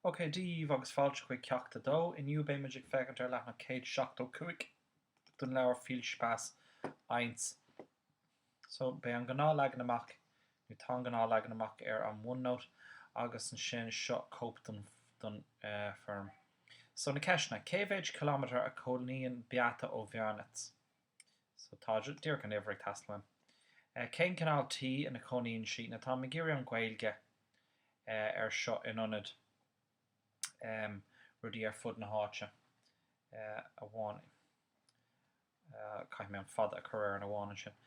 OK, Dia daoibh agus fáilte chuig Ceacht 2. Inniu beidh muid ag féachaint ar leathnach 175 den leabhar Viel Spaß 1. So, beidh an gnáth leagan amach, nó tá an gnáth leagan amach ar an OneNote agus ansin seo cóip den den eh foirm. So, na ceisteanna, cé mhéid kilometre a chónaíonn Beate ó Bhearnait? So tá díreach an uimhir ag teastáil uaim. Cén cineál tí ina chónaíonn sí? Now táim ag iarraidh an Ghaeilge ar seo in ionad rudaí ar fud na háite amháin. Caithfidh mé an fada a chur ar an amháin ansin.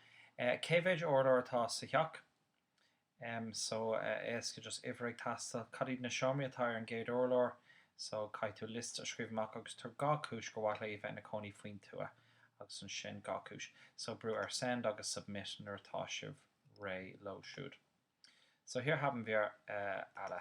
Cé mhéid urlár atá sa theach? em so eh éasca just uimhir ag teastáil cad iad na seomraí atá ar an gcéad urlár so caithfidh tú liosta a scríobh amach agus tabhair dhá chúis go mhaith léi a bheith ina cónaí faoin tuath agus ansin dhá chúis so brú ar send agus submit nuair atá sibh réidh leo siúd so hier haben wir eh alle.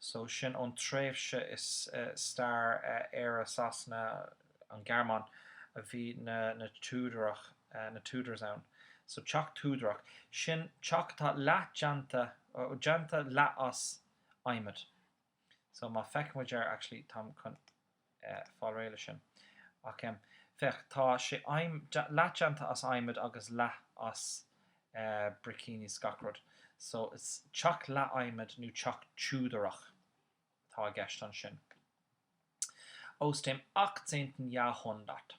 so sin ón tréimhse i stair Éire, Sasana, An Ghearmáin a bhí na na Túdarach, na Tudors ann. So teach Túdarach, sin teach atá leath déanta, déanta leath as adhmad. So má feic muid ar actually táim chun. fáil réidh leis sin. Ach féach, tá sé leath déanta as adhmad agus leath as bricíní 's gach rud, so is teach leath adhmad nó teach Túdarach atá i gceist ansin. Aus dem achtzehnten Jahrhundert.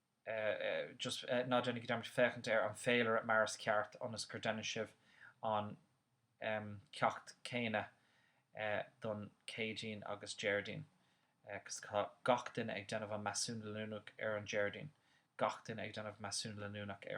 just ná déanaigí dearmad féachaint ar an féilire mar is ceart ionas gur déanann sibh an ceacht céanna don Céadaoin agus Déardaoin cos tá gach duine ag déanamh an measúnú leanúnach ar an Déardaoin gach duine ag déanamh measúnú leanúnach ar